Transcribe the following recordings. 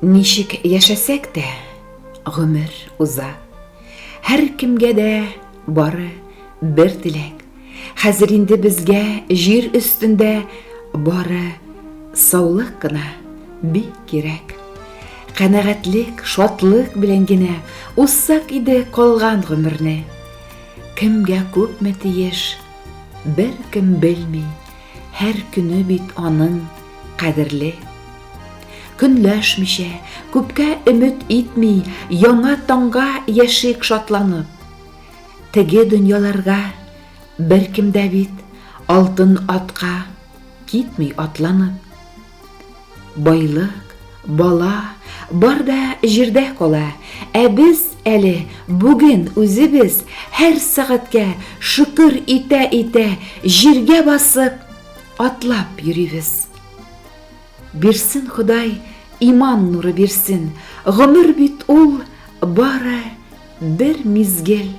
Ничек яшәсәк тә, гомер уза. Һәркемгә дә бары бер теләк. Хәзер инде безгә җир өстендә бары саулык кына бик кирәк. Канәгатьлек, шатлык белән генә узсак иде калган гомерне. Кемгә күпме тиеш, беркем белми. Һәр көне бит аның кадерле. Көнләшмичә, күпкә өмет итми, яңа таңга яшик шатланып. Теге дөньяларга беркем дә бит алтын атка китми атланып. Байлык, бала, бар да җирдә кала, ә без әле бүген үзебез һәр сәгатькә шөкер итә-итә җиргә басып, атлап йөрибез. Бирсен Ходай, иман нуры бирсен, гомер бит ул бары бер мизгел.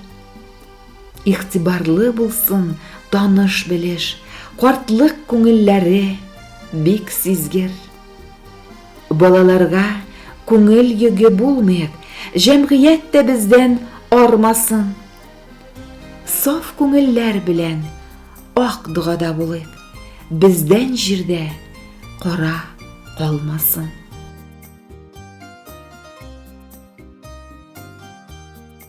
Игътибарлы булсын таныш-белеш, картлык күңелләре бик сизгер. Балаларга күңел йөге булмыйк, җәмгыять тә бездән армасын. Саф күңелләр белән ак догада булыйк, бездән җирдә кара калмасын.